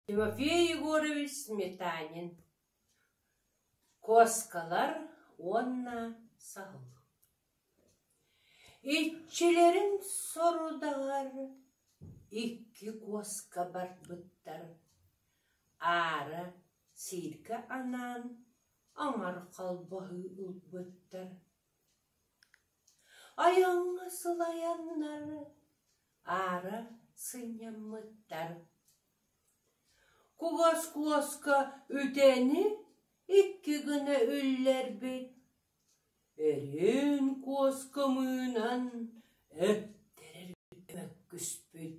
Тимофей Егорович Сметанин Куоскалар уонна Саһыл Иччилэрин сорудаҕар икки куоска барбыттар аара сииргэ анаан оҥор холбоһуу ылбыттар Ойуҥҥа сылайаннар аара сынньаммыттар. Кугас куоска үтэни икки гына үллэрбит, Өрүөн куоска мыынан өттөрөргө мөккүспүт.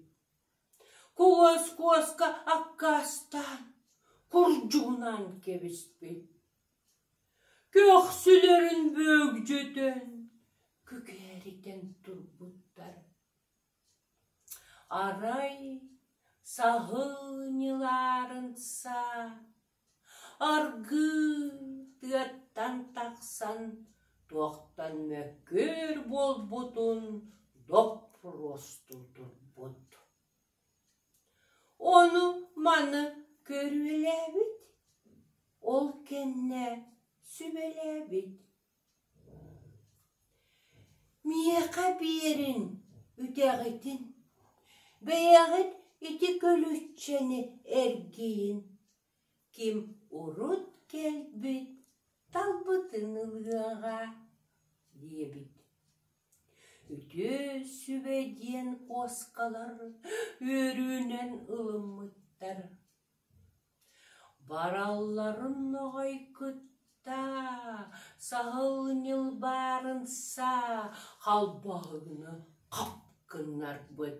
Кугас куоска аккаастаан, курдьугунаан кэбиспит. Көхсүлэрин бөөгдьөтөн күкээрийтэн турбуттар, арай саһыанньыларын са аргыы тыаттан тахсан туохтан мөккүөр буолбутун доппуруостуу турбут. Ону маны көрүөлээбит, ол кэннэ сүбэлээбит: «Миэхэ биэриҥ үтэҕитин, бэйэҕит ити күлүччэни эргийин Ким урут кэлбит талбытын ылыаҕа диэбит Үтүө сүбэ диэн куоскалар үөрүүнэн ылыммыттар Баралларын ноҕой кытта саһыл ньылбаарынса халбаһыгынан хап гыннарбыт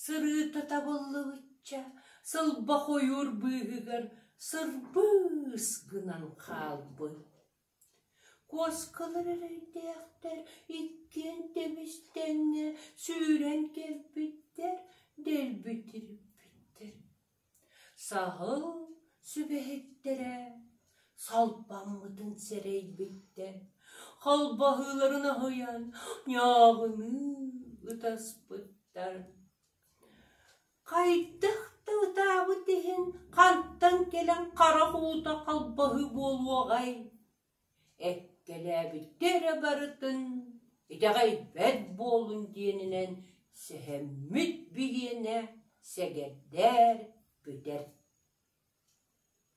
Сырыыта табыллыбычча сылба хойуур быыһыгар сырбыыс гынан хаалбыт. Куоскалар эрэйдээхтэр иккиэн тэбис-тэҥҥэ сүүрэн кэлбиттэр, дэлби тириппиттэр Саһыл сүбэһиттэрэ салпаммытын сэрэйбиттэр, халбаһыыларын аһыйан ньааҕыныы ытаспыттар. Хайдах да ытаабыт иһин хантан кэлэн харах уута халбаһыы буолуоҕай Эккэлээбиттэр эрэ барытын итэҕэйбэт буоллун диэнинэн сэһэммит бириэмэ сэгэрдээр, бүтэр